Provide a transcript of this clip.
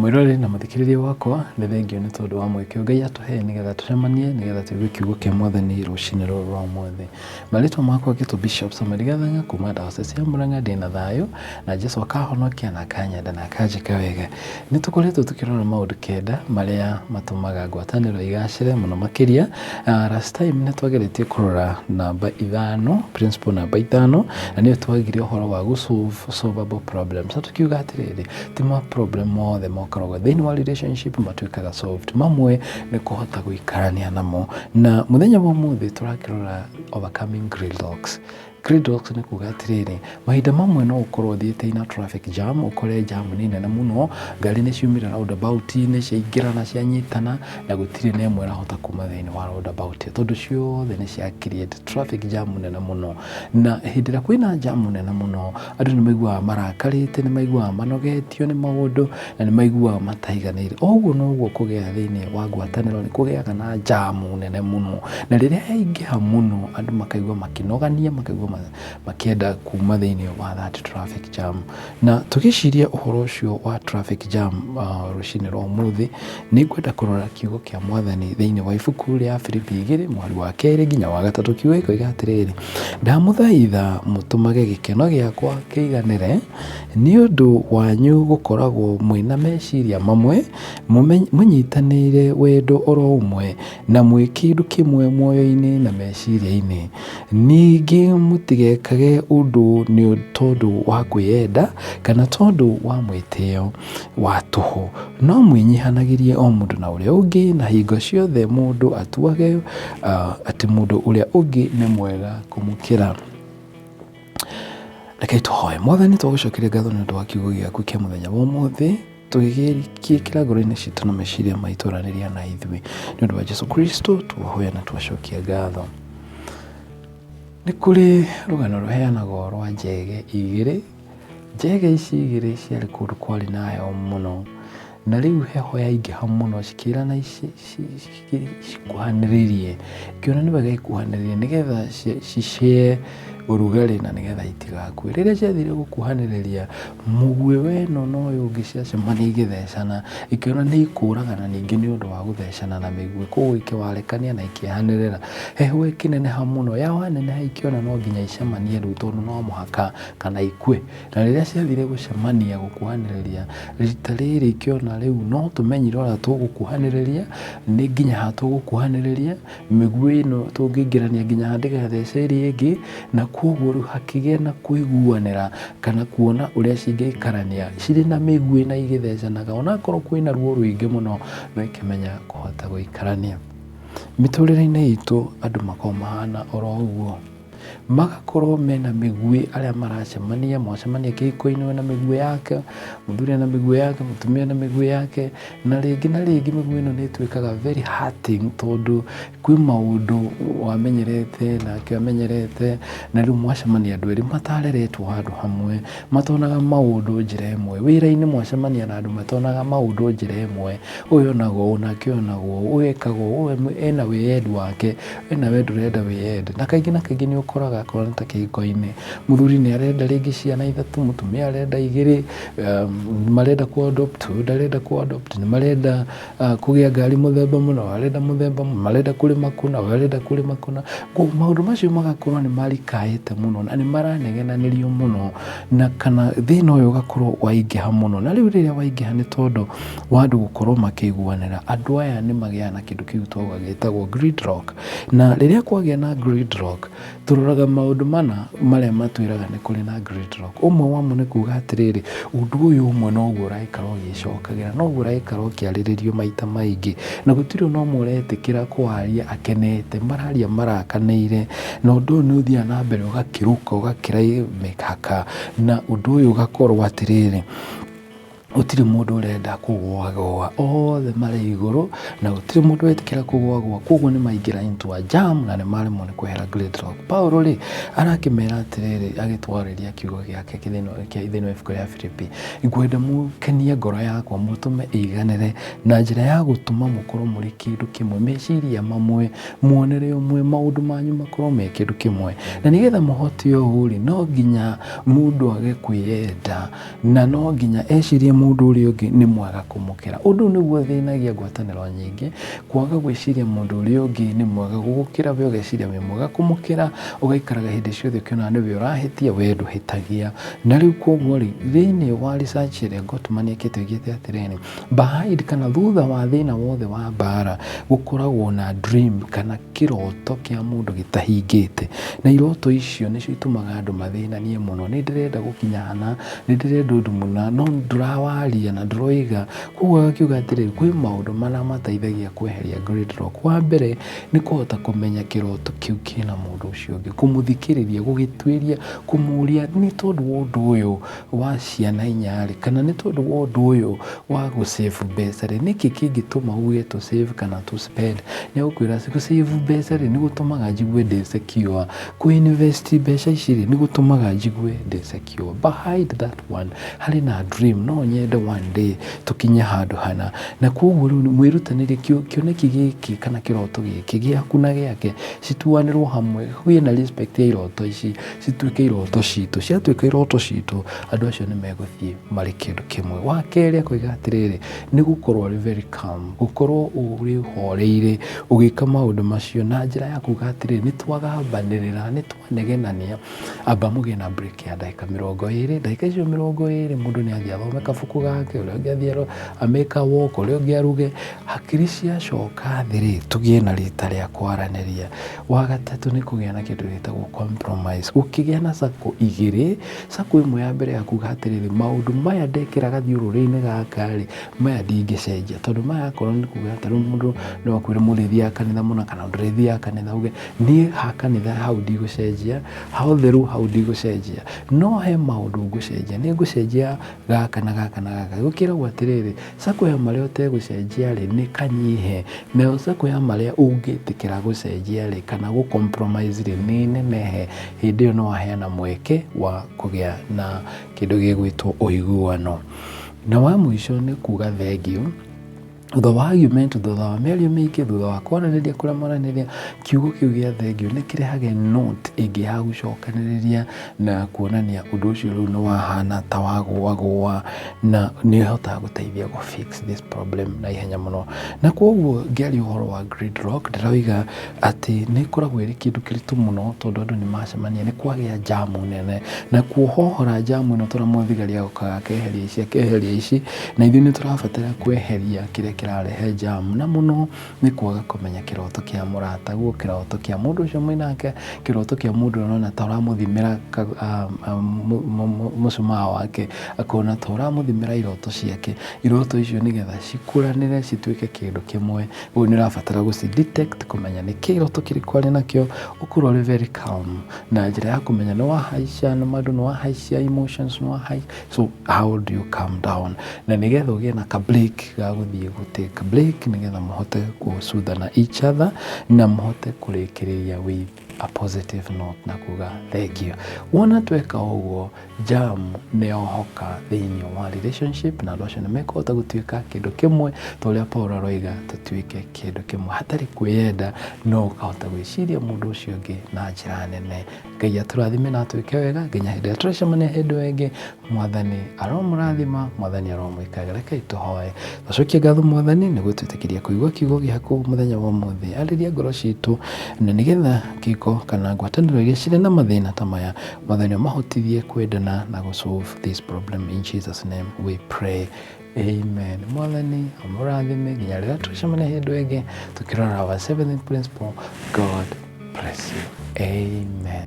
Mwĩroreri na mũthikĩrĩria wakwa, nĩ thengio nĩ tondũ wa mweke Ngai atũhe nĩgetha tũcemanie nĩgetha tũigue kiugo kĩa Mwathani rũcinĩ rũrũ rwa ũmũthĩ. Marĩtwa makwa ngĩtwo Bishop Samuel Gathanga kuma Diocese ya Murang'a ndĩ na thayũ na Jesu akahonokia na akanyenda na akanjĩka wega. Nĩ tũkoretwo tũkĩrora maũndũ kenda marĩa matũmaga ngwatanĩro igacĩre mũno makĩria. Last time nĩ twageretie kũrora namba ithano, principle namba ithano na nĩyo twagire ũhoro wa gũ solve solvable problems. Na tũkiuga atĩrĩrĩ, ti ma problem mothe mokaragwo thĩinĩ wa relationship matuĩkaga soft mamwe nĩ kũhota gũikarania namo na mũthenya wa ũmũthĩ tũrakĩrora overcoming gridlocks gridlocks nĩ kuga atĩrĩrĩ mahinda mamwe no ũkorwo ũthiĩte na traffic jam ũkore jam nĩ nene mũno ngari nĩ ciumĩra roundabout inĩ ciaingĩra na cianyitana na gũtirĩ na ĩmwe ĩrahota kuma thĩinĩ wa roundabout ĩyo tondũ ciothe nĩ cia create traffic jam nene mũno na hĩndĩ ĩrĩa kwĩna jam nene mũno andũ nĩ maiguaga marakarĩte nĩ maiguaga manogetio nĩ maũndũ na nĩ maiguaga mataiganĩire o ũguo noguo kũgĩa thĩinĩ wa ngwatanĩro nĩ kũgĩaga na njamu nene mũno na rĩrĩa yaingĩha mũno andũ makaigua makĩnogania makaigua ma- makĩenda kuma thĩinĩ wa that traffic jam na tũgĩciria ũhoro ũcio wa traffic jam uh, rũcinĩ rwa ũmũthĩ Nĩ ngwenda kũrora kiugo kĩa mwathani thĩinĩ wa ibuku rĩa Filipi igĩrĩ mwari wa kerĩ nginya wa gatatũ kiugo ikoiga atĩrĩrĩ ndamũthaitha mũtũmage gĩkeno gĩakwa kĩiganĩre nĩ ũndũ wanyu gũkoragwo mwĩna meciria mamwe mũnyitanĩire wendo oro ũmwe na mwĩ kĩndũ kĩmwe muoyo-inĩ na meciria-inĩ ningĩ mũtigekage ũndũ nĩ tondũ wa kwĩyenda kana tondũ wa mwĩtĩo wa tũhũ. No mwĩnyihanagĩrie o mũndũ na ũrĩa ũngĩ, na hingo ciothe mũndũ atuage uh, atĩ mũndũ ũrĩa ũngĩ nĩ mwega kũmũkĩra rekei tũhoe mwathani twagũcokeria ngatho nĩ ũndũ wa kiugo gĩaku kĩa mũthenya wa ũmũthĩ tũgĩgĩkĩra ngoro-inĩ citũ na meciria maitũ ranĩria na ithuĩ nĩ ũndũ wa jesu kristo tuohoya na twacokia ngatho nĩ kũrĩ rũgano rũheanagwo rwa njege igĩrĩ Njega ici igĩrĩ ciarĩ kũndũ kwarĩ na heho mũno, na rĩu heho yaingĩha mũno cikĩrana cikuhanĩrĩrie, ikĩona nĩ wega ikuhanĩrĩrie nĩgetha cicee ũrugarĩ na nĩgetha itigakue. Rĩrĩa ciathire gũkuhanĩrĩria, mũguĩ wa ĩno na ũyũ ũngĩ ciacemania igĩthecana, ikĩona nĩ ikũragana ningĩ nĩ ũndũ wa gũthecana na mĩguĩ, koguo ikĩwarekania na ikĩanĩrĩra. Heho ĩkĩneneha mũno, yaneneha ikĩona no nginya icemanie rĩu tondũ no mũhaka. kana ikue na rĩrĩa ciathire gũcemania gũkuhanĩrĩria rita rĩrĩ ikĩona rĩu no tũmenyire ũrĩa tũgũkuhanĩrĩria nĩ nginya ha tũgũkuhanĩrĩria mĩguĩ ĩno tũngĩingĩrania nginya ha ndĩgathece ĩrĩa ĩngĩ na kwoguo rĩu hakĩgĩa na kũiguanĩra kana kuona ũrĩa cingĩikarania cirĩ na mĩguĩ na igĩthecanaga onakorwo kwĩna ruo rũingĩ mũno no ikĩmenya kũhota gũikarania mĩtũrĩre-inĩ itũ andũ makoragwo mahana oro ũguo magakorwo mena mĩguĩ arĩa maracemania, mwacemania kĩhiko-inĩ wĩna mĩguĩ yake, mũthuri ena mĩguĩ yake, mũtumia ena mĩguĩ yake, na rĩngĩ na rĩngĩ mĩguĩ ĩno nĩ ĩtuĩkaga very hurting tondũ kwĩ maũndũ wamenyerete nake amenyerete, na rĩu mwacemania andũ erĩ matareretwo handũ hamwe, matonaga maũndũ njĩra ĩmwe, wĩra-inĩ mwacemania na andũ matonaga maũndũ njĩra ĩmwe, ũyũ onaga ũũ nake ũyũ onaga ũũ, ũyũ ekaga ũũ, ũyũ ena wĩyendi wake. we nawe ndũrenda wĩyende na kaingĩ na kaingĩ nĩ ũkoraga akorwo nĩ ta kĩhiko-inĩ mũthuri nĩ arenda rĩngĩ ciana ithatũ mũtumia arenda igĩrĩ um, marenda ku adopt ũyũ ndarenda ku adopt nĩ marenda uh, kũgĩa ngari mũthemba mũna arenda mũthemba mũna marenda kũrĩma kũna ũyũ arenda kũrĩma kũna Koguo maũndũ macio magakorwo nĩ marikaĩte mũno na nĩ maranegenanĩrio mũno na kana thĩna ũyũ ũgakorwo waingĩha mũno na rĩu rĩrĩa waingĩha nĩ tondũ wa andũ gũkorwo makĩiguanĩra. Andũ aya nĩ magĩaga na kĩndũ kĩu twauga gĩtagwo grid lock. Na rĩrĩa kwagĩa na grid lock, tũroraga maũndũ mana marĩa matwĩraga nĩ kũrĩ na grid lock. Ũmwe wamo nĩ kuuga atĩrĩrĩ, ũndũ ũyũ ũmwe noguo ũraikara ũgĩcokagĩra, noguo ũraikara ũkĩarĩrĩrio maita maingĩ. Na gũtirĩ o na ũmwe ũretĩkĩra kũaria akenete, mararia marakanĩire. Na ũndũ ũyũ nĩ ũthiaga na mbere ũgakĩrũka ũgakĩra mĩkaka. Na ũndũ ũyũ ũgakorwo atĩrĩrĩ. Gũtirĩ mũndũ ũrenda kũgũa gũa, othe marĩ igũrũ na gũtirĩ mũndũ wetĩkĩra kũgũa gũa, koguo nĩ maingĩra into a jam na nĩ maremwo nĩ kwehera Great Rock. Paulo rĩ, arakĩmera atĩrĩrĩ, agĩtwarĩria kiugo gĩake thĩinĩ wa ibuku rĩa Filipi, ngwenda mũkenie ngoro yakwa, mũtũme ĩiganĩre na njĩra ya gũtũma mũkorwo mũrĩ kĩndũ kĩmwe, meciria mamwe, muonere ũmwe, maũndũ manyu makorwo me kĩndũ kĩmwe. Na nĩgetha mũhote ũũ rĩ, no nginya mũndũ age kwĩyenda. na no nginya ecirie mũndũ ũrĩa ũngĩ nĩ mwega kũmũkĩra. Ũndũ ũyũ nĩguo ũthĩnagia ngwatanĩro nyingĩ, kwaga gwĩciria mũndũ ũrĩa ũngĩ nĩ mwega gũgũkĩra we ũgeciria wĩ mwega kũmũkĩra, ũgaikaraga hĩndĩ ciothe ũkĩonaga nĩwe ũrahĩtia we ndũhĩtagia. Na rĩu koguo-rĩ, thĩinĩ wa research ĩrĩa Gottman ekĩte oigĩte atĩrĩrĩ, Behind kana thutha wa thĩna wothe wa mbara gũkoragwo na dream kana kĩroto kĩa mũndũ gĩtahingĩte. Na iroto icio nĩcio itumaga andũ mathĩnanie mũno. Nĩ ndĩrenda gũkinya hana, nĩ ndĩrenda ũndũ mũna no ndũrawaria na ndũroiga. Kwoguo agakiuga atĩrĩrĩ, kwĩ maũndũ mana mateithagia kweheria great lock. Wa mbere nĩ kũhota kũmenya kĩroto kĩu kĩna mũndũ ũcio ũngĩ, kũmũthikĩrĩria, gũgĩtuĩria, kũmũria nĩ tondũ wa ũndũ ũyũ. wa ciana inya rĩ, kana nĩ tondũ wa ũndũ ũyũ wa gũ save mbeca rĩ, nĩkĩ kĩngĩtũma uge tũ save kana tũ spend? Nĩ egũkwĩra gũ save mbeca rĩ, nĩ gũtũmaga njigue ndĩ secure. Kũ invest mbeca ici rĩ, nĩ gũtũmaga njigue ndĩ secure. Behind that one harĩ na dream. No nyende one day tũkinye handũ hana. Na kwoguo rĩu mwĩrutanĩrie kĩoneki gĩkĩ kana kĩroto gĩkĩ gĩaku na gĩake cituanĩrwo hamwe, kũgĩe na respect ya iroto ici. cituĩke iroto citũ ciatuĩka iroto citũ andũ acio nĩ megũthiĩ marĩ kĩndũ kĩmwe wa kerĩ akoiga atĩrĩrĩ nĩ gũkorwo arĩ very calm gũkorwo ũrĩ horeire ũgĩka maũndũ macio na njĩra ya kuga atĩrĩrĩ nĩ twagambanĩrĩra nĩ twanegenania amba mũgĩe na break ya ndagĩka mĩrongo ĩrĩ ndagĩka icio mĩrongo ĩrĩ mũndũ nĩ athiĩ athome kabuku gake ũrĩa ũngĩ athiĩ aro- amĩka walk ũrĩa ũngĩ aruge hakiri ciacoka thĩ-rĩ tũgĩe na rita rĩa kwaranĩria Wa gatatũ nĩ kũgĩa na kĩndũ gĩtagwo compromise. Ũkĩgĩa na sacco igĩrĩ, sacco ĩmwe ya mbere ya kuga atĩrĩrĩ, maũndũ maya ndekĩra gathiũrũrĩ-inĩ gaka rĩ, maya ndingĩcenjia. Tondũ maya akorwo nĩ kuga atĩ rĩu mũndũ no akwĩre mũrĩthiaga kanitha mũna kana ndũrĩthiaga kanitha, uge niĩ ha kanitha hau ndigũcenjia, ha ũtheru hau ndigũcenjia. No he maũndũ ngũcenjia, nĩ ngũcenjia gaka na gaka na gaka gũkĩragwo atĩrĩrĩ sako ya marĩa ũtegũcenjia rĩ nĩ kanyihe nayo sako ya marĩa ũngĩtĩkĩra gũcenjia rĩ kana gũ compromise rĩ nĩ nenehe hĩndĩ ĩyo no waheana mweke wa kũgĩa na kĩndũ gĩgwĩtwo ũiguano na wa mũico nĩ kuga thengiũ Thutha wa argument, thutha wa mĩario mĩingĩ, thutha wa kwaranĩria kũrĩa maranĩria, kiugo kĩu gĩa thengio nĩ kĩrehage note ĩngĩ ya gũcokanĩrĩria na kuonania ũndũ ũcio rĩu nĩ wahana ta wagũagũa na nĩ ũhotaga gũteithia gũ fix this problem na ihenya mũno. Na kwoguo ngĩaria ũhoro wa gridlock ndĩroiga atĩ nĩ ĩkoragwo ĩrĩ kĩndũ kĩritũ mũno tondũ andũ nĩ macemania nĩ kwagĩa njamu nene. Na kuohohora njamu ĩno tũramwĩra thigari agokaga akeheria ici akeheria ici. Na ithuĩ nĩ tũrabatara kweheria kĩrĩa kĩrarehe jamu na mũno nĩ kwaga kũmenya kĩroto kĩa mũrata guo kĩroto kĩa mũndũ ũcio mwĩ nake kĩroto kĩa mũndũ ũrĩa ũrona ta ũramũthimĩra mũcumaa wake akona ta ũramũthimĩra iroto ciake iroto icio nĩgetha cikũranĩre cituĩke kĩndũ kĩmwe ũguo nĩ ũrabatara gũci detect kũmenya nĩ kĩroto kĩrĩkũ arĩ nakĩo ũkorwo ũrĩ very calm na njĩra ya kũmenya nĩ wahaica nĩ wahaica emotions nĩ wahaica so how do you calm down na nigetha ugie na ka break ga guthie gu take a break nigetha muhote gucuthana each other na muhote kurikiriria with a positive note na kuga thank you wona tweka uguo jam ni ohoka thiini wa relationship na andu acio ni mekũhota gutuika kindu kimwe ta uria Paul aroiga tutuike kindu kimwe hatari kwiyenda no ukahota gwiciria mundu ucio ungi na njira nene Ngai atũrathime na atwĩke wega nginya hĩndĩ ĩrĩa tũrĩcemania hĩndĩ ĩyo ĩngĩ. Mwathani aromũrathima, Mwathani aromwĩkaga. Rekei tũhoe. Tũcokie ngatho Mwathani nĩ gũtwĩtĩkĩria kũigua kiugo gĩaku mũthenya wa ũmũthĩ. Arĩria ngoro citũ na nĩgetha kĩko kana ngwatanĩro iria cirĩ na mathĩna ta maya, Mwathani ũmahotithie kwendana na gũ solve this problem. In Jesus name we pray. Amen. Mwathani amũrathime nginya rĩrĩa tũcemane hĩndũ ĩngĩ tukirona our seventh principle. God bless you. Amen.